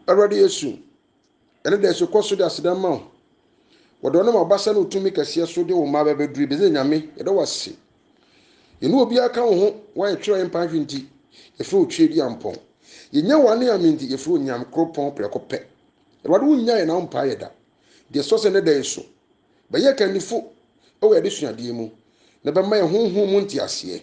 Awurade Yesu, ɛne dɛ so kɔ so de aseda ma wo. Wɔde ɔnam abasa ne wo tumi kɛseɛ so de wo mma bɛbɛduru ebi sɛ Nyame, yɛda wo ase. Yɛne obiara ka wo ho, woayɛ twerɛ mpa ahwe nti, yɛfrɛ wo twerɛ di ampɔn. Yɛnya wo ane ame nti, yɛfrɛ wo nyam koro pɔn prɛko pɛ. Awurade wo nya yɛ na wo mpaa yɛ da. Deɛ sɔ sɛ ne da yi so, bɛyɛ kanifo wɔ yɛde suadeɛ mu, na bɛma yɛ honhom mu nteaseɛ.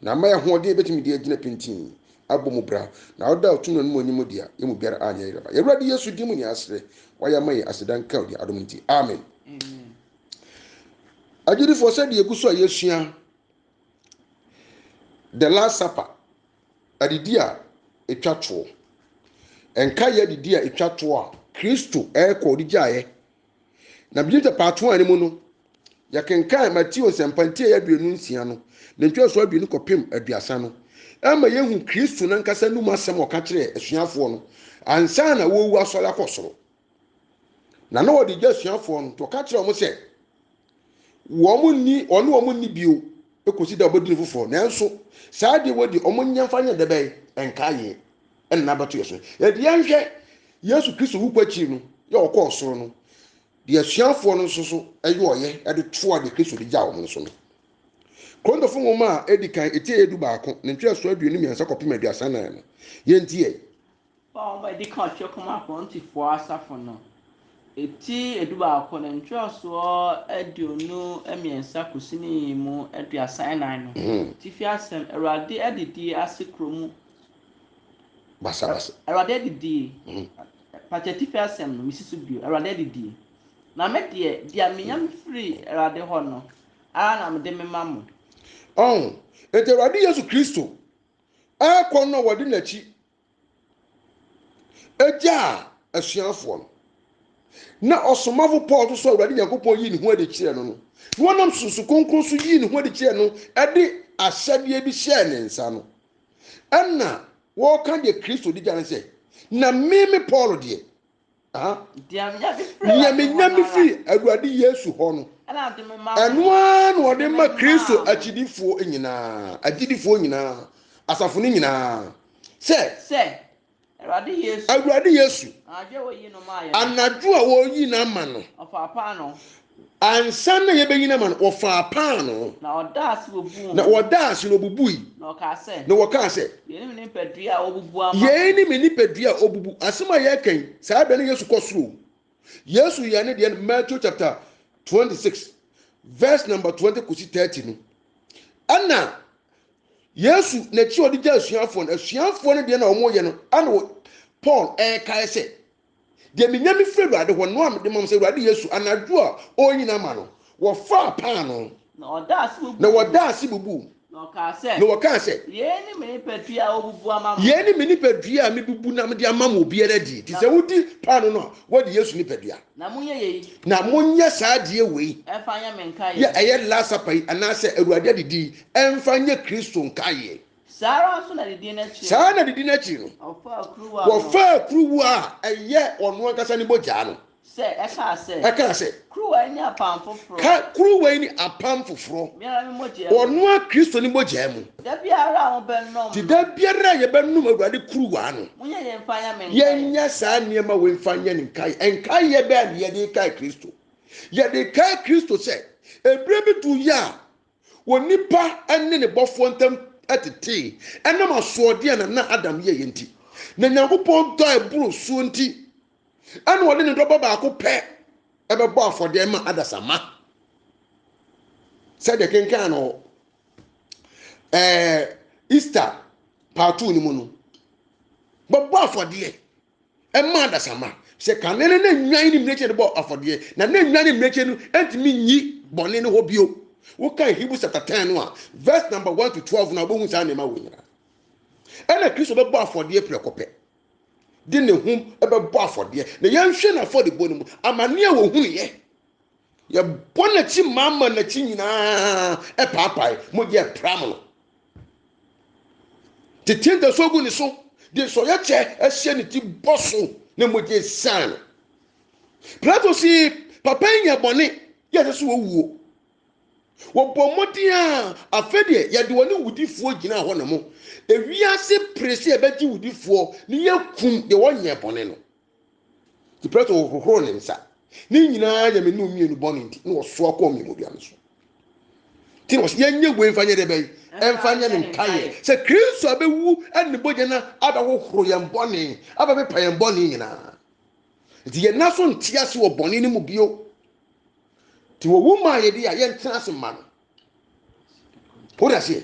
na ama yɛ ahoɔden yɛbɛtumi de agyina pintinn abɔ mu bra na ɔda ɔtum no anom anim deɛ yɛ mu biara anyɛ yerɛba yɛwurade yesu din mu ne asrɛ wayɛ ama yɛ aseda nka odi adom nti amen agyinifoɔ sɛ deɛ egu so a yɛsua the last supper adidi a ɛtwa toɔ ɛnka yɛ adidi a ɛtwa toɔ a kristo ɛrekɔ ɔde gyaeɛ Na bigye tapaato a ne mu no, yɛkenkan Mateo nsɛmpa ntiae aduonu nsia no, ne ntwerɛsoɔ aduonu kɔpem aduasa no, ɛma yɛhu Kristo nankasa num asɛm a ɔka kyerɛɛ asuafoɔ no ansa na wɔrewu asɔre akɔ soro. Na na ɔde gya asuafoɔ no, nti ɔka kyerɛɛ wɔn sɛ, wɔn nni ɔne wɔn nni bio kɔsi da wɔbɛdi no foforɔ nanso saa adeɛ wɔ deɛ wɔn nyɛ mfa nyɛ dɛ bɛn nka yɛ ɛnna abɛto yɛ so yɛde yɛnhwɛ yesu kristo wu kɔ akyiri no yɛ ɔkɔ ɔsoro no deɛ asuafoɔ no nso so ɛyɛ ɔyɛ ɛde toa deɛ kristo de gya wɔn nso no kɔntɔfo nwoma a ɛdi kan ɛti ɛyɛ du baako ne ntwerɛsoɔ aduonu mmiɛnsa kɔpem aduasa nan no yɛnti yɛ Wɔn a wɔadi kan ɔtwerɛ kɔmaa Korintifoɔ asafo no, Ti dubaako no ntwerɛsoɔ aduonu mmiɛnsa kɔsini mu aduasa nnan no tifi asɛm, Awurade adidie ase korɔ mu basabasa. Awurade adidie, mpakyɛ atifi asɛm no mesi so bio, Awurade adidie. Na me deɛ, deɛ menya mefiri Awurade hɔ no ara na mede mema mo. Ɔho, enti Awurade Yesu Kristo akɔ no a wɔde n'akyi gyaa asuafoɔ no. Na ɔsomafo Paul nso so Awurade Nyankopɔn yii ne ho adi kyerɛɛ no no, na wɔnam susu kronkron so yii ne ho adi kyerɛɛ no de ahyɛdeɛ bi hyɛɛ ne nsa no. Ɛna wɔka deɛ Kristo di gya no sɛ, Na me me Paul deɛ, Deɛ menya me firi Awurade Yesu hɔ no, ɛno ara na ɔde ma Kristo akyidifoɔ nyinaa, agyidifoɔ nyinaa, asafo no nyinaa. Sɛ Awurade Yesu, anadwo a wɔyi no ama no, Ansa na yebenyin ama no, wɔfaa paanoo. Na wɔdaa ase bubuu ho. Na wɔdaa ase na wobubui. Na wɔkaa sɛ. Na wɔkaa sɛ. Yei ne me nipadua a wɔbubu ama me. Yei ne me nipadua a wɔbubu. Asɛm a yɛreka yi, saa berɛ no Yesu kɔ soro o. Yesu yɛɛ ne deɛ no Matthew chapter twenty six verse number twenty kɔsi thirty no. Ɛna Yesu n'akyi a ɔde gya asuafoɔ no, asuafoɔ no deɛ na wɔyɛ no, ɛna Paul ɛrekae sɛ, Deɛ menya me firi Awurade hɔ no a mede ma mo sɛ Awurade Yesu, anadwo a ɔrenyini ama no, wɔfaa paanoo, Na ɔdaa ase bubuu na mu. wɔdaa ase bubuu mu, Na ɔkaa sɛ, na wɔkaa sɛ, Yei ne me nipadua a wɔbubu ama mo. Yei ne me nipadua a mebubu na mede ama mo, obiara die. Enti sɛ wodi paanoo no a, woadi Yesu nipadua. Na monyɛ yei Na monyɛ saa adeɛ wei mfa nyɛ me nkaeɛ. yɛ, ɛyɛ Last Supper yi, anaasɛ Awurade adidi yi, mfa nyɛ Kristo nkaeɛ. Saa ara nso na didi no akyi no. Saa ara na didi no akyi no. Wɔfaa kuruwa no. Wɔfaa kuruwa a ɛyɛ ɔno ankasa ne mogya no. Sɛ, ɛkaa sɛ. Ɛkaa sɛ. Kuruwa yi ne apam foforɔ. Ka, kuruwa yi ne apam foforɔ. Me ara me mogya mu. Ɔno ara Kristo ne mogya mu. Da biara a mobɛnom no. Nti da biara a yɛbɛnom Awurade kuruwa no. Monyɛ yei mfa nyɛ me nkaeɛ. Yɛnyɛ saa nneɛma wei mfa nyɛ ne nkaeɛ. Nkaeɛ bɛn na yɛde rekae Kristo? Yɛde rekae Kristo sɛ, ɛberɛ bi duru yɛ a, wɔ nnipa ne ne bɔfoɔ ntam tetee ɛnam asoɔdeɛ a nana Adam yɛeɛ nti. Na Nyankopɔn dɔ a ɛboro soɔ nti, ɛna ɔde ne dɔba baako pɛ ɛbɛbɔ afɔdeɛ ma adasamma. Sɛdeɛ kenkan no ɛɛ Easter part two no mu no, bɛbɔ afɔdeɛ ɛma adasamma sɛ kane no na nnwan ne mmirekyɛ no bɔ afɔdeɛ na na nnwan ne mmirekyɛ no ntumi nyi bɔne no hɔ bio wokan hebrews chapter 10 no a verse number 1 to 12 na wobɛhu saa nneɛma wɔ nyinaa ɛna kristo bɛbɔ afɔdeɛ prɛko pɛ de ne ho bɛbɔ afɔdeɛ na yɛnhwɛ no afɔdebɔ no mu amanneɛ a wɔhunuiɛ yɛbɔ n'akyi maa ma n'akyi nyinaa ɛpaapae mogya ɛpram no tete ntaso agu ne so de nsɔyɛ kyɛ ahyɛ ne ti bɔ so na mogya esian no pilato si papa yi nyɛ bɔne yɛ sɛ so wɔwuo wɔbɔ mmɔden a afei deɛ yɛde wɔne wudifoɔ gyina hɔ na mo ewiase pere sɛ yɛbɛgye wudifoɔ ne yɛkum deɛ wɔnyɛ bɔne no Nti Pilato hohoroo ne nsa. Ne nyinaa yɛ me ne mmienu bɔne nti, na ɔsoa kɔɔ mmienu dua no so. Nti na ɔsɛ yɛnyɛ wei mfa nyɛ dɛ bɛyi, ɛmfa nyɛ ne nkaeɛ sɛ Kristo abɛwu ɛne ne bɔgya no abɛhohoro yɛn bɔne, abɛpepa yɛn bɔne nyinaa. Nti yɛn na so nte ase wɔ bɔne no mu bio. Nti wɔwu maa yɛde a yɛntena ase ma no. Wode aseɛ?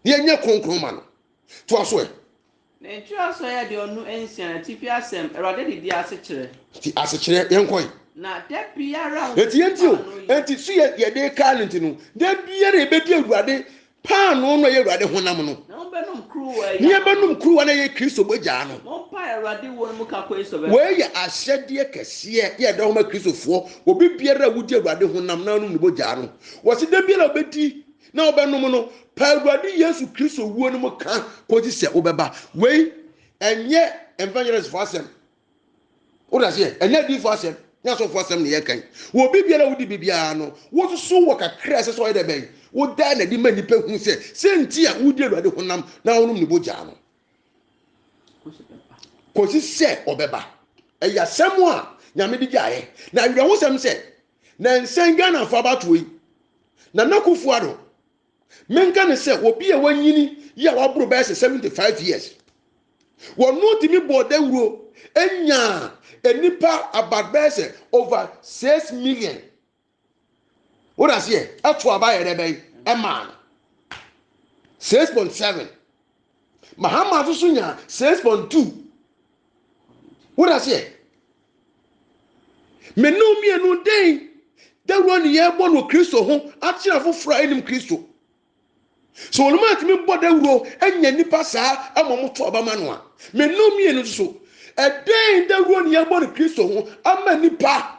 Yɛnyɛ kronkron ma no. To aso ɛ. Na etiri ason yɛ deɛ ɔno nsia, na atifi asɛm, Awurade de di asekyerɛ. Ti asekyerɛ, yɛn kɔe. Na da biara a. Eti yɛn ti o, eti so yɛ yɛ de kaa ne ti no, da biara yɛ bɛ di Awurade paanoo no a yɛ Awurade honam no. Na wɔn bɛ nom kuruwa yɛ. Ne yɛ bɛ nom kuruwa no a yɛ Kristo mogyaa no. Wɔn pae Awurade wuo no mu ka kɔe so bɛ. Wei yɛ ahyɛdeɛ kɛseɛ yɛ ɛda homa Kristofoɔ, obi biara a wodi Awurade honam na anom ne mogyaa no, wɔsi da biara a ɔbɛ di na wobɛnom no, pa Awurade Yesu Kristo wuo no mu ka kɔgye sɛ wobɛba. Wei ɛnyɛ evangelistfoɔ asɛm. Wode aseɛ, ɛnyɛ adiifoɔ asɛm, nyɛ asɔfoɔ asɛm na yɛka yi. Wɔ biribiara a wodi biribiara no, wososo wɔ kakra a ɛsɛ sɛ ɔyɛ dɛ bɛn. Wodaa n'adi ma nnipa hu sɛ sɛ nti a wodi Awurade honam na wonom ne bogyaa no. Kɔsi sɛ ɔbɛba. Ɛyɛ asɛm a Nyame de gyaeɛ. Na awerɛhosɛm sɛ na nsɛn ghanafoɔ abatoɔ yi nana akufo ado menka ne sɛ obi a wanyini yi a waboro bɛyɛ sɛ 75 years wɔno tumi bɔɔ dawuro nyaa nnipa about bɛyɛ sɛ over 6 million wode aseɛ ɛto aba yɛ dɛ bɛyi ɛmaa no 6.7 Mahama nso so nyaa six point two wode aseɛ me ne mmienu dɛn dawuro ne yɛbɔ no kristo ho akyerɛ foforɔ a ɛnim kristo sɛ wɔn mu atumi bɔ dawuro anya nipa saa ama wɔn to aba ma no a me ne mmienu nso so ɛdɛn dawuro ne yɛbɔ no kristo ho ama nipa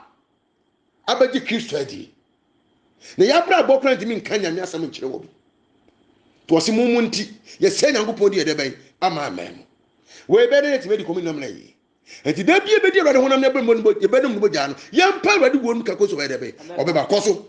abɛgye Kristo adi. Na yɛn abrabɔ koraa ntumi nka Nyame asɛm nkyerɛ wɔn. To ɔse mo mu nti, yɛsɛe Nyankopɔn din a ɛdɛ bɛn ama aman mu. Wei bɛyɛ dɛn atumi adi komunna mmara yi? Enti da bi yɛbɛdi Awurade honam ne abɛmmɔ no yɛbɛnom no mogyaa no, yɛmpa Awurade wuo no ka kosi ɔbɛyɛ dɛ bɛn ɔbɛba kɔ so.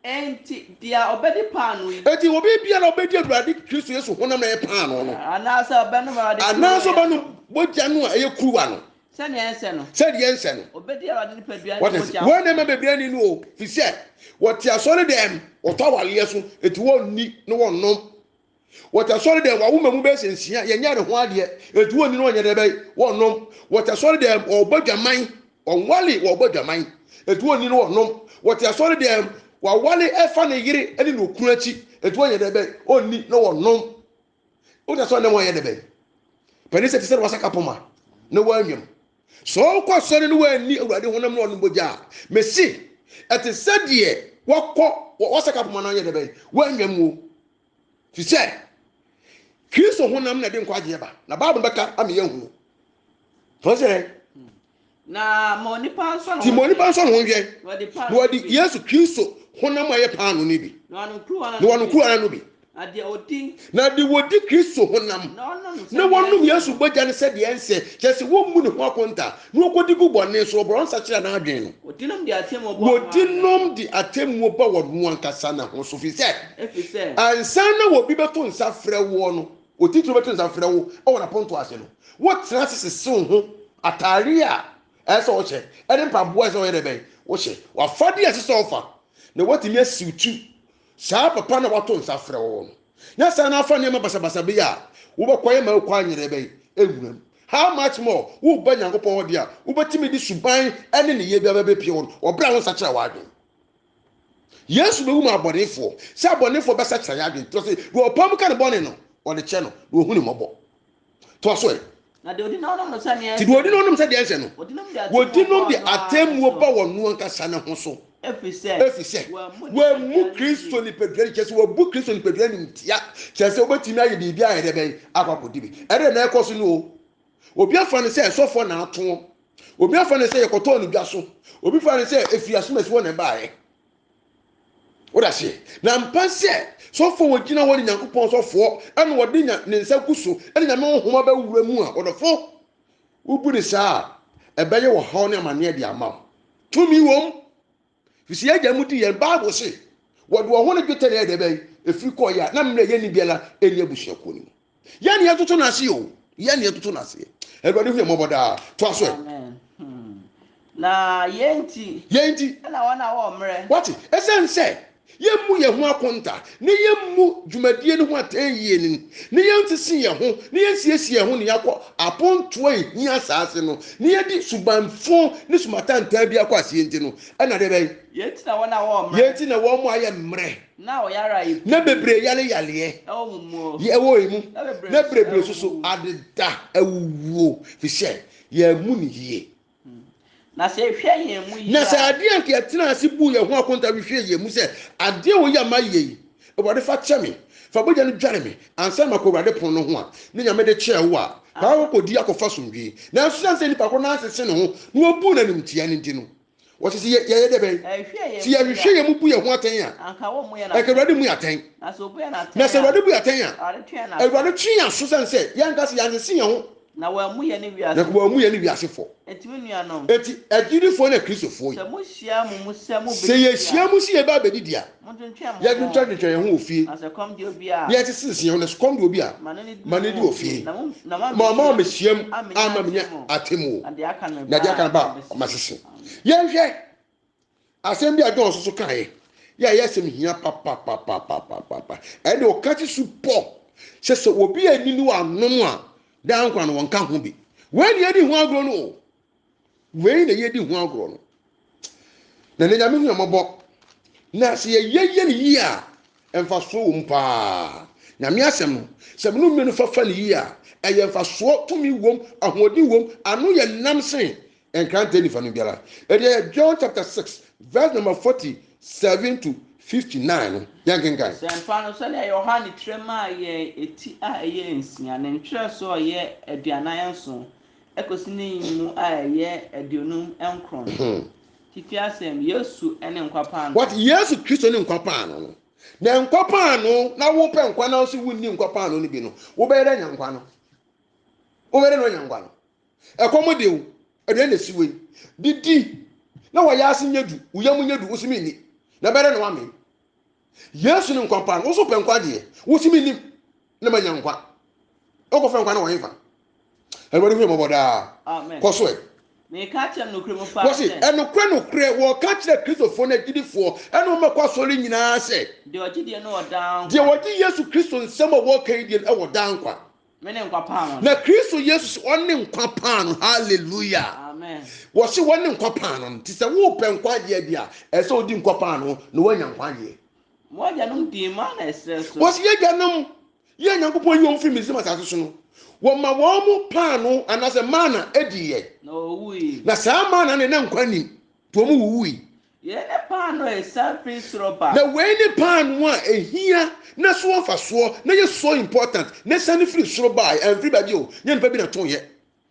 Enti deɛ ɔbɛdi paanoo yi. Enti obi biara a ɔbɛdi Awurade Kristo Yesu honam na ɛyɛ paanoo no. Anaasɛ ɔbɛnom Awurade kuruwa. Anaasɛ ɔbɛnom mogya no a ɛyɛ kuruwa no. Sɛdeɛ ɛnsɛ no. Sɛdeɛ ɛnsɛ no. Ɔbɛdi Awurade nipadua ne mogya ho. Wɔn na ɛma bebree nni no o, ɛfiri sɛ wɔte asɔredɛm, wɔtɔ awareɛ so, enti wɔnni na wɔnnom. Wɔta sɔre dɛm, wɔawo mmamu bɛyɛ sɛ nsia, yɛnyɛ ne ho adeɛ, ɛnti wɔnni no ɔnyɛ dɛ bɛyɛ, wɔnnom. Wɔta sɔre dɛm, wɔbɔ dwaman, wɔnwale, wɔbɔ dwaman, ɛnti wɔnni no wɔnnom. Wɔte asɔre dɛm, wɔawale ɛfa ne yere ne ne okunu akyi, ɛnti wɔnyɛ dɛ bɛyɛ, wɔnni na wɔnnom. Wota sɔre dɛm wɔnyɛ dɛ bɛyɛ. Panin sɛ te sɛ na wasaka poma na wɔanwam. Sɛ ɔkɔ asɔre na wanni Awurade honam na ɔnom bogya a, mese, ɛte sɛ deɛ wakɔ wasaka poma no anyɛ dɛ bɛn, wannya muo. Fi sɛ, Kristo honam na ɛde nkwagyeɛ ba, na Bible bɛka ama yɛahunu. Fɔ sɛ dɛn? na ma onipa nsɔ ne ho nti ma onipa nsɔ ne ho nhwɛ na wɔde yesu kristo honam a ɛyɛ paano no bi na wɔnom kuruwa no bi Na deɛ ɔdi. Na deɛ ɔdi Kristo honam. Na ɔnom sɛdeɛ. Na ɔnom Yesu bɔgya no sɛdeɛ ɛnsɛ, kyerɛ sɛ wɔmmu ne ho akonta, na ɔkɔdi gu bɔne so, ɔborɔ nsa kyerɛ n'adwene no. Ɔdinom de atemmuo bɔ. Ɔdinom de atemmuo ba wɔn ankasa na ho so, firi sɛ. Ɛfiri sɛ. Ansa na obi bɛto nsa frɛ woɔ no, otitire bɛto nsa frɛ wo wɔ n'apontoɔ ase no, wotena ase sese wo ho, atadeɛ a ɛsɛ sɛ ɔhyɛ, ɛne mpaboa a ɛsɛ sɛ ɔyɛ dɛ bɛn, wohyɛ, w'afadeɛ a ɛsɛ sɛ ɔfa, na woatumi asiw ti Saa papa no a wato nsa afrɛ wo no, nyɛ saa na afa nneɛma basabasa bi a wobɛkɔyɛ ma wokɔ anyerɛ bɛn? Nwura mu. How much more, woreba Nyankopɔn hɔ deɛ a, wobɛtumi de suban ne nneyɛɛ biara bɛpia wɔn wɔ berɛ a wonsakyera w'adwene. Yesu bɛwu maa abɔnefoɔ, sɛ abɔnefoɔ bɛsakyera yɛn adwene, kyerɛ sɛ, deɛ ɔpae mu ka ne bɔne no, ɔde kyɛ no, na ɔhu ne mmɔbɔ. toa so ɛ. Na deɛ ɔdi na ɔnom no sɛdeɛ ɛsɛ no. Nti deɛ ɔdi na ɔnom sɛdeɛ ɛsɛ no. Ɔdi nom deɛ ɔdi nom deɛ atemmuo ba wɔn ankasa no ho so. Ɛfiri sɛ. Ɛfiri sɛ. Wɔammu Kristo nipadua no. Kyerɛ sɛ wɔabu Kristo nipadua no animtia. Kyerɛ sɛ wobɛtumi ayɛ biribi a ɛdɛ bɛn akɔ akɔdi bi. Ɛdɛ na ɛkɔ so no o. Obi afa no sɛ ɛsɔfoɔ na ato. Obi afa no sɛ yɛkɔtɔɔ no dwa so. Obi fa no sɛ ɛfiri asomasi hɔ na ɛbaeɛ. Wode aseɛ? Na mpa sɛ sɔfoɔ wɔgyina hɔ ne Nyankopɔn sɔfoɔ ɛna wɔde nya ne nsa gu so ɛna Nyame honhom abɛwura mu a ɔdɔfo wobu ne saa a ɛbɛyɛ ɔhaw ne amaneɛ de ama wo. Tumi wom fisi yɛ agya mu di yɛn Bible se wɔde wɔn ho ne dwetɛ na ɛyɛ dɛbɛn ɛfiri kɔɔyɛ a na mmerɛ yɛnni biara ɛni abusuakuo no mu. yɛn ni ɛtoto n'ase o yɛn ni ɛtoto n'ase awurade hu yɛn mɔbɔ daa to aso ɛ. Hmm. na yɛn ti. yɛn ti. ɛna wɔn a wɔn mmerɛ. wɔte ɛsɛn sɛ yɛn mu yɛn ho akonta ne yɛn mu dwumadie no ho atɛn yie no ne yɛn sisi yɛn ho ne yɛn siesie yɛn ho ne yɛakɔ apontoɔ ehia asaase no ne yɛde subanfo ne sumatantaa bi akɔ aseɛ nti no ɛna de bɛn. yɛn ti na wɔn a wɔn mmerɛ. yɛn ti na wɔn mu ayɛ mmerɛ. Na bebree yare yareɛ ɛwɔ emu, na bebree nso so adeda awuwuo, fi sɛ yɛammu no yie. Na sɛ ehwɛ yɛn mu yie a. Na sɛ adeɛ anka yɛtenaa ase buu yɛn ho akonta hwehwɛɛ yɛn mu sɛ, Adeɛ a wei a mayɛ yi, Awurade fa kyɛ me, fa bogya no dware me ansa na makɔ Awurade pono no ho a, na Nyame de kyɛɛ wo a, fa akɔkɔdi akɔfa asomdwoe. Nanso sane sɛ nnipa koro no ansese ne ho na wabu no animtiaa no nti no, Wɔte sɛ yɛyɛ dɛ bɛn? Sɛ yɛhwehwɛ yɛn mu bu yɛn ho atɛn a, anka Awurade mmu yɛn atɛn. Na sɛ Awurade bu yɛn atɛn a, Awurade twe yɛn aso sɛn sɛ yɛanka sɛ yɛanyese yɛn ho, na wammu yɛn ne wiase fɔ. Enti, agyidifo ne Kristofo yi, sɛ yɛhyia mu sɛ yɛbɛba abedidi a, Yɛtwentwɛntwentwɛn yɛn ho wɔ fie, na yɛte sɛ nsiaw, na sukɔm de obi a, ma no di wɔ fie. Ma ɔma wɔ mehyiam ama menya atemmuo, na deɛ aka no ba a masese. Yɛnhwɛ asɛm bi a John nso so kaeɛ, yɛ a ɛyɛ asɛm hia papapapapapapa. Ɛne ɔka te su pɔ sɛ sɛ obi anni ne wanom a, daa nkwa no wɔnka ho bi. Wei ne yɛdi ho agorɔ no o. wei na yɛdi ho agorɔ no na ne nyame hu ɛmɔbɔ na sɛ yɛyɛ yɛ no yie a mfasoɔ wɔ mu paa nyame asɛm no sɛ mene mmienu fafa no yie a ɛyɛ mfasoɔ tumi wom ahoɔden wom ano yɛ nam sen nkrantɛ nifa no biara ɛdeɛ john chapter 6 verse number 47 to 59 no yɛnkenkan Sɛmpa no sɛdeɛ Yohane twerɛ maa yɛn eti a ɛyɛ nsia, ne ntwerɛsoɔ a ɛyɛ aduanan nson, Ɛkɔsi ne mmu a ɛyɛ aduonum nkron. Hmm. Titi asɛm, Yesu ne nkwa paano. What? Yesu Kristo ne nkwa paano no. Na nkwa paano na wopɛ nkwa na nso wonni nkwa paano no bi no, wobɛyɛ dɛ nya nkwa no. Wobɛyɛ dɛ na ɔnya nkwa no. Ɛkɔm de wo, aduane na esi wei. Didi na wɔyɛ ase nyɛ du, wo yam nyɛ du, wo so menni. Na bɛyɛ dɛ na wamee. Yesu ne nkwa pa no, wo so pɛ nkwa deɛ, wo si me nim na manya nkwa. Wokɔfrɛ nkwa no wɔ hefa? Awurade hwɛ mmɔbɔ daa. Kɔ so ɛ. Wɔsi ɛnokorɛ nokorɛ wɔka kyerɛ Kristofoɔ no agyidifoɔ ɛna wɔn bɛkɔ asɔre nyinaa sɛ deɛ wɔgye Yesu Kristo nsɛm a wɔka yi deɛ ɛwɔ daa nkwa. Me ne nkwa paano no. Na Kristo Yesu se ɔne nkwa paano. Hallelujah. Amen. Wɔse wɔne nkwa paano no. Nti sɛ wopɛ nkwagyeɛ adi a, ɛsɛ sɛ wodi nkwa paano na woanya nkwagyeɛ. Mo agyanom dii ma na ɛserɛ so. Wɔse yɛagyanom, yɛ Nyankopɔn yi wɔn firi Misrim asase so no, wɔma wɔn mo paano anaasɛ mana adiiɛ. Na wɔwuui. Na saa mana no na nkwa nim, nti wɔn wuwui. Yei ne paanoo a ɛsiane firi soro ba. Na wei ne paanoo a ɛhia na ɛso wɔ mfasoɔ na ɛyɛ so important na ɛsiane firi soro baeɛ, amfiri baabi o, nyɛ nnipa bi na tooeɛ,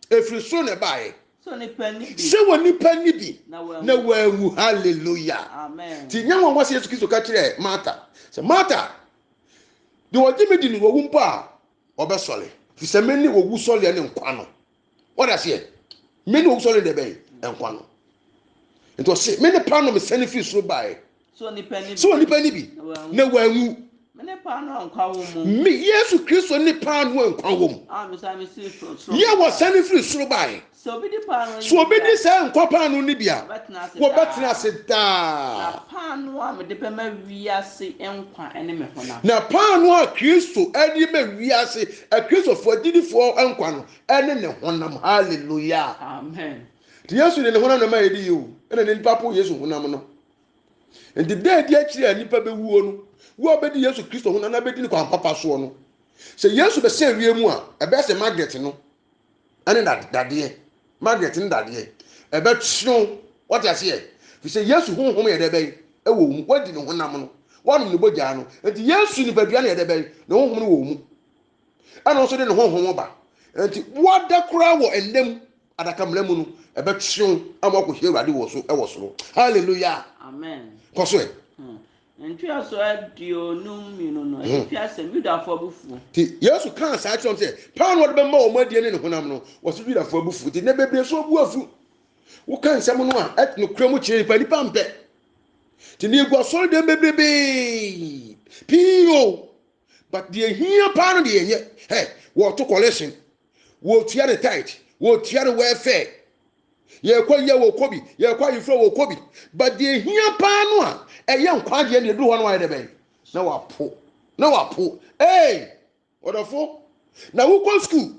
ɛfiri soro na ɛbaeɛ. Sɛ onipa nni bi. Sɛ onipa nni bi. Na wanwu. Na wanwu. Hallelujah. Amen. Nti nyɛ nwanwa sɛ Yesu Kristo ka kyerɛɛ Martha sɛ, Martha, deɛ ɔgye me di no, wawu mpo a, ɔbɛsɔre fi sɛ me ne owu sɔreɛ ne nkwa no wɔde aseɛ me ne owu sɔreɛ deɛ bɛn nkwa no nti ɔse me ne paano mesɛne firi soro baeɛ sɛ onipa ni bi na wanwu me yesu kristo ne paano a nkwa wɔ mu yɛ wɔsɛne firi soro baeɛ So obi di saa nkwa paano no bi a, wɔbɛtena ase daa. Na paano a mede bɛma wiase nkwa ne me honam. Na paano a Kristo de ma wiase, Kristofo agyidifoɔ nkwa no, ne ne honam. Hallelujah. Amen. Nti Yesu de ne honam na ma yɛde yi o, ɛna ne nipa po Yesu honam no. Nti da adi akyiri a nipa bɛwuo no, wo a wobɛdi Yesu Kristo honam na bɛdi ne kwan papa soɔ no, sɛ Yesu bɛsɛ wie mu a, ɛbɛyɛ sɛ Margaret no, ɛne dadeɛ Margaret ne dadeɛ ɛbɛtweo wɔte aseɛ fi sɛ Yesu honhom yɛ dɛ bɛn ɛwɔ wo mu wadi ne honam no wanom ne bogyaa no nti Yesu nipadua no yɛ dɛ bɛn ne honhom no wɔ wo mu ɛna nso de ne honhom ba nti wada koraa wɔ ɛnna mu adaka mmara mu no ɛbɛtweo ama wakɔhyɛ awurade wɔ so ɛwɔ soro hallelujah amen kɔ so ɛ hmm. Ntoaso aduonum mmienu no, ɛde fi asɛm Yudafo abufuo. Nti Yesu kaa saa kyerɛ wɔn sɛ, paano a ɔde bɛma wɔn adie ne ne honam no, wɔsi Yudafo abufuo. Nti nnɛ bebree so obu afu. Woka nsɛm no a, ɛte nokorɛ mu kyerɛ nipa, nipa mpɛ. Nti ne egu asɔre dɛm bebrebee pii o, but deɛ ehia paa no deɛ yɛnyɛ. Ɛ wɔto collection. wɔtua ne tithe wɔtua ne welfare yɛkɔ yɛ wɔkɔ bi yɛkɔ ayefrɛ wɔkɔ bi but deɛ hia paa no a ɛyɛ nkwagyeɛ ne ɛduru hɔ no ayɛ dɛ bɛn na wapo na wapo ee ɔdɔfo na wokɔ school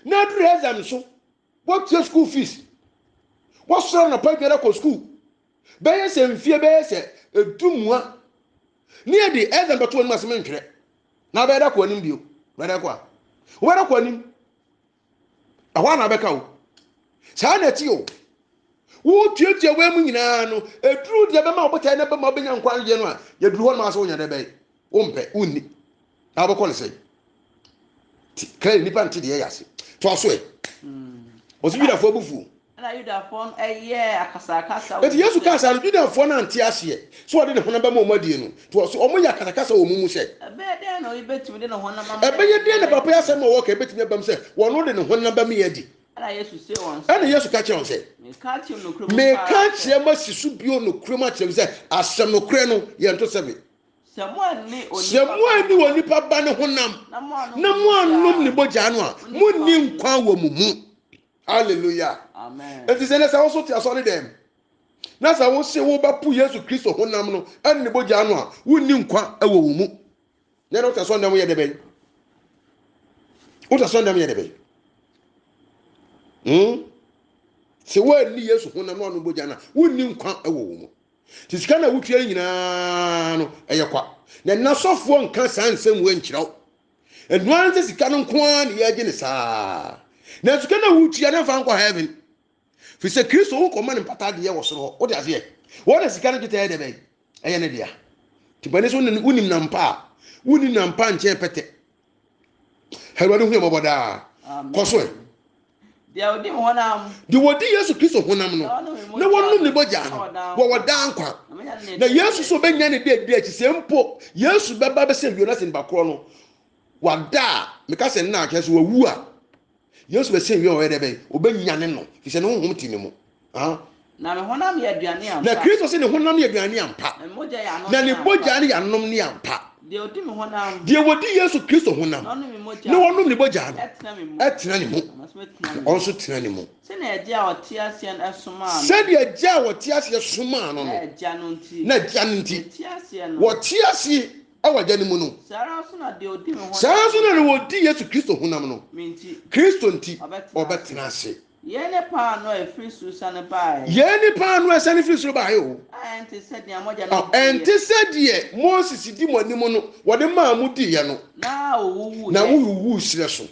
na aduru exam so wɔtua school fees wɔsɔrɔ anapa biara kɔ school bɛyɛ sɛ mfie bɛyɛ sɛ ɛdu mua ne ɛde exam bɛto anim asɛm ntwerɛ na bɛda kɔ anim bio bɛda kɔ a wobɛda kɔ anim ɛhɔ a na bɛka o saa na ɛte o wotuatua wei mu nyinaa no ɛduru deɛ bɛma wobɛtae na bɛma wobɛnya nkwa nyeɛ no a yɛduru hɔ no maa sɛ wonya dɛ bɛyɛ wompɛ wonni na wobɛkɔ no sɛe kra nnipa nte deɛ yɛ ase toa so ɛ ɔsɛ yudafoɔ abufuo Ɛnna Yudafoɔ no yɛɛ akasakasa wɔ wɔn mu sɛ. Enti Yesu kaa saa no, Yudafoɔ no ante aseɛ sɛ ɔde ne honam bɛma wɔn adie no, nti ɔse wɔyɛ akasakasa wɔ wɔn mu sɛ. Ɛbɛyɛ dɛn na oyi bɛtumi de ne honam ama yɛn adi? Ɛbɛyɛ dɛn na papa yi asɛm a ɔreka yi bɛtumi abam sɛ ɔno de ne honam bɛma yɛn adi? Ɛnna Yesu see wɔn sɛ. Ɛnna Yesu ka kyerɛɛ wɔn sɛ. Mereka akyerɛ mo nokorɛ mu paa sɛ. Mereka akyerɛ mo asi so bio nokorɛ mu akyerɛ mo sɛ, asɛm nokorɛ no, yɛnto sɛ me. Sɛ moanni Onipa Ba no honam. Sɛ moanni Onipa Ba no honam. Na moannom ne mogya no a, monni nkwa wɔ mo mu. Hallelujah. Amen. Enti sɛ ne sɛ woso te asɔre dɛm na sɛ wose wobɛpo Yesu Kristo honam no ɛne ne bogya no a wonni nkwa wɔ wo mu. Na ɛna wotasɔ ndɛm yɛ dɛbɛn? Wotasɔ ndɛm yɛ dɛbɛn? Hmm? Sɛ woanni Yesu honam na ɔno bogya no a wonni nkwa wɔ wo mu. Nti sika na wotua nyinaa no ɛyɛ kwa. Na nasɔfoɔ nka saa nsɛm wɔ nkyerɛw. ɛno ara sɛ sika no nko ara na yɛregye ne saa na sika no a wotua no mfa nkɔ heaven fi sɛ kristo wo nkɔma ne mpata adeɛ wɔ soro hɔ wode aseɛ wɔn na sika no dwetɛ yɛ dɛ bɛn ɛyɛ ne dea tipani so wonim nampa a wonni nampa nkyɛn pɛtɛ awurade hu yɛ mmɔbɔ daa kɔ so ɛ Deɛ ɔdi honam. Deɛ ɔdi Yesu Kristo honam no na wɔnom ne bɔgyaa no wɔwɔ daa nkwa. Na Yesu so bɛnya ne deɛ di akyi sɛ mpo Yesu bɛba bɛsɛ wio na sɛ nipa korɔ no wada a meka sɛ nna akyɛ so wawu a Yesu bɛsɛ wio a ɔyɛ dɛ bɛn ɔbɛnyane no fi sɛ ne honhom te ne mu. Na me honam yɛ aduane ampa. Na Kristo se ne honam yɛ aduane ampa. Na ne mogya yɛ anom ne ampa. Na ne mogya ne yɛ anom ne ampa. Deɛ ɔdi me honam. Deɛ ɔdi Yesu Kristo honam. Na ɔnom me mogya. Na ɔnom ne mogya no. Ɛtena me mu. Ɛtena ne mu. Na ɔno nso tena ne mu. Sɛdeɛ agya a ɔte aseɛ no somaa no. Sɛdeɛ agya a ɔte aseɛ somaa no no. Na agya no nti. Na agya no nti. Ɔte aseɛ no. Ɔte aseɛ ɛwɔ agya no mu no. Saa ara nso na deɛ ɔdi me honam. Saa ara nso na deɛ ɔdi Yesu Kristo honam no. Me nti. Kristo nti. Ɔbɛtena ase. Ɔbɛtena ase. Yei ne paanoo a ɛfiri soro siane baeɛ. Yei ne paanoo a ɛsiane firi soro baeɛ o. A ɛnte sɛ deɛ mogya no diiɛ. Ɛnte sɛ deɛ Moses di mo anim no, wɔde maa mo diiɛ no. Na ɔwuwuiɛ. Na ɔwuwuiɛ serɛ so.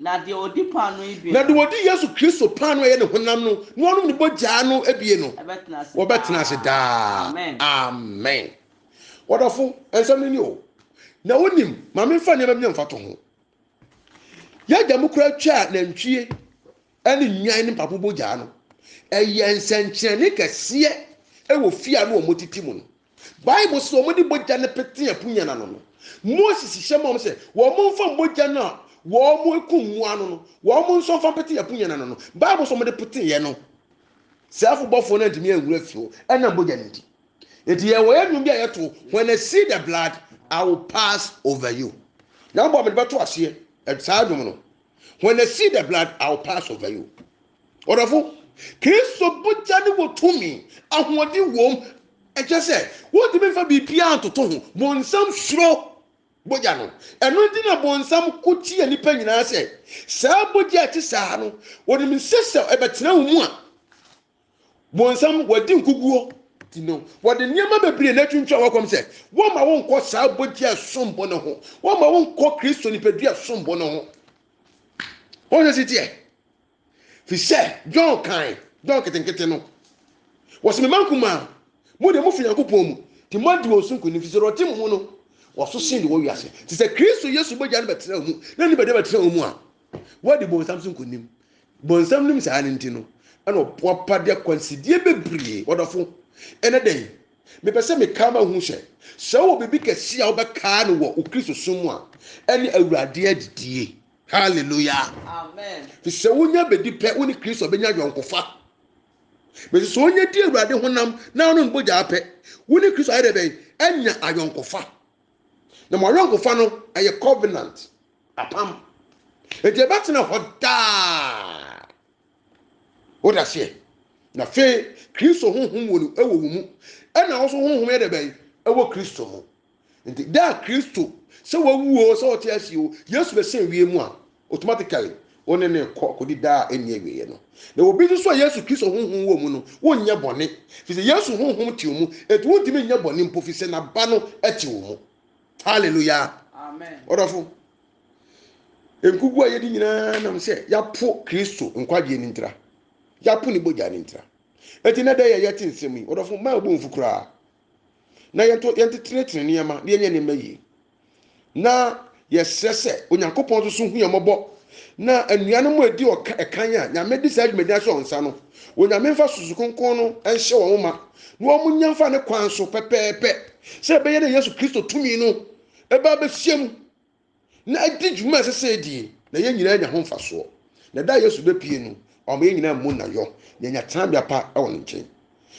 Na deɛ ɔdi paanoo yi bie no. Na deɛ ɔdi Yesu Kristo paanoo a ɛyɛ ne honam no na ɔnom ne bogya no bie no. Ɛbɛtena ase daa. Wɔbɛtena ase daa. Amen. Amen. Ɔdɔfo, nsɛm no ni o. Na wonim, ma memfa nneɛma bi na mfa to ho. Yɛagya mu koraa twaa nantwie ne nnwan ne mpapo bogyaa no. Ɛyɛ nsɛnkyerɛnne kɛseɛ wɔ fie a na wɔtete mu no. Bible sɛ wɔde bogya no pete apunya no ano no, Moses hyɛ ma wɔn sɛ wɔmfa mogya no a wɔkum mmoa no no, wɔn nso mfa mpete apunya no ano no. Bible sɛ wɔde peteeɛ no, sɛɛfo bɔfoɔ no antumi anhunu afiri hɔ ɛnam bogya no nti. Enti yɛ wɔyɛ nnwom bi a yɛto when I see the blood I will pass over you. Nyankopɔn mede bɛto aseɛ eh, saa nnwom no. When I see the blood I will pass over you. Ɔdɔfo, Kristo bogya ne wɔ tumi, ahoɔden wom. Ɛkyɛ sɛ wontumi mfa biribiara ntoto ho. Bonsam suro bogya no. Ɛno nti na bonsam ko tia nnipa nyinaa sɛ saa bogya a ɛte saa no, wɔnim sɛ sɛ ɛbɛtena wo mu a, Bonsam, wɔadi nkoguo ti no, wɔde nneɛma bebree na atwintwa wɔn kɔm sɛ wɔmma wo nkɔ saa bɔgye a ɛsom bo no ho, wɔmma wo nkɔ Kristo nipadua a ɛsom bo no ho. Wɔn sɛ si teɛ. Fi sɛ John kan, John ketenkete no, wɔsɛ mema nkumaa, mo deɛ mofi Nyankopɔn mu, nti moadi wɔn so nkonim, fi sɛ ɔte mo mu no, wɔso sen de wɔ wiase. Te sɛ Kristo Yesu bɔgya no bɛtena wɔn mu, na ne bɛde bɛtena wɔn mu a, Wadi bonsam so nkonim. Bonsam nim saa no nti no, ɛna ɔboapa de akwansideɛ bebree. Ɔdɔfo, ɛnɛ da yi, mepɛ sɛ mekaa ma hu sɛ, sɛ wowɔ biribi kɛse a wobɛkaa no wɔ wo Kristo som mu a, ɛne Awurade adidie. Hallelujah. Amen. Fi sɛ wonya bɛdi pɛ, wo ne Kristo bɛnya yɔnkofa. Mese sɛ wonya di Awurade honam na wonom bogyaa pɛ, wo ne Kristo ayɛ dɛ bɛn? Anya ayɔnkofa. Na mo ayɔnkofa no, ɛyɛ covenant, apam. Enti ɛbɛtena hɔ daa. Wode aseɛ? Na afei Kristo honhom wɔ no ɛwɔ wo mu, ɛna wo nso honhom yɛ dɛ bɛn ɛwɔ Kristo mu. Nti da a Kristo sɛ wawu o sɛ ɔte ase o, Yesu bɛsɛn wiem a, Automatically, wo ne no rekɔ akɔdi daa a ɛnni awieɛ no. Na obi nso so a Yesu Kristo honhom wɔ mu no, wonyɛ bɔne, firi sɛ Yesu honhom te wo mu, enti wontumi nyɛ bɔne mpo, firi sɛ n'aba no te wo mu. Hallelujah! Amen. Ɔdɔfo, nkugu a yɛdi nyinaa nam sɛ yɛapo Kristo nkwagyeɛ no ntira, yɛapo ne bogya no ntira. Enti na dɛ yɛ yɛte nsɛm yi, ɔdɔfo, mmaa wo bo mfu koraa, na yɛnto yɛntetenetene nneɛma na yɛnyɛ nneɛma yie. na yɛsrɛ sɛ onyankopɔn nso so hu yɛn mmɔbɔ na anuanom a ɛdi ɔka ɛkan a nyame de saa dwumadi ahyɛ wɔn nsa no onyame mfa susu kronkron no nhyɛ wɔn ma na wɔn nya mfa ne kwan so pɛpɛɛpɛ sɛ ɛbɛyɛ na yesu kristo tumi no ɛbɛ abɛhyia mu na ɛdi dwuma ɛsɛ sɛ ɛdie na yɛn nyinaa nya ho mfasoɔ na da yesu bɛpie no ɔma yɛn nyinaa mu na yɔ na yɛnya tenabea pa wɔ ne nkyɛn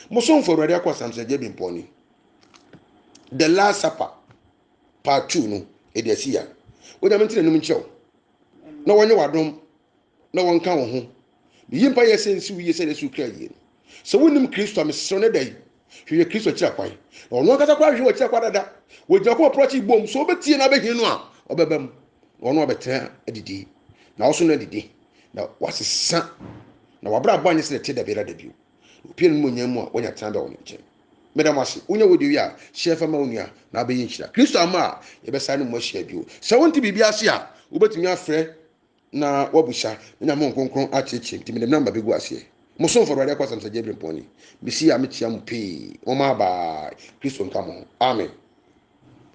mosomfo awurade akɔ asam sɛ gye bi mpɔne The Last Supper part two no ɛde asi ya wonyame nti n'anim nkyerɛ wo na wɔnyɛ w'adom na wɔnka wo ho meyi mpa yɛ sɛ nsi wo yie sɛ yɛsu kra yie no sɛ wonim kristo a mesrɛ no da yi hwehwɛ kristo akyira kwan na ɔno ankasa koraa hwehwɛ w'akyira kwan dada wɔgyina kɔ ɔporɔkye bom sɛ wobɛtie na wobɛhia no a ɔbɛba mu na ɔno abɛtena adidi na ɔso no adidi na wasesa na wabrabɔ anyɛ sɛ ɛte da biara da bio Mpia n'enyimonyam mu a onya tsenabea wɔ ne nkyɛn. Meda mo ase. Wonya wei de wie a, hyɛ fa ma wo nua, na abɛyɛ nhyira. Kristo amma a, yɛbɛsan ne mo ahyia bio. Sɛ wonte biribi ase a, wobɛtumi afrɛ na woabusa, na Nyame Honhom Kronkron akyerɛkyerɛ mu. Nti mede me nɔmba bɛgu aseɛ. Mo somfo Awurade Akwasam Sir Gabriel Mpɔnyi. Mesi a mekyea mo pii. Momma bye. Kristo nka mo ho. Amen.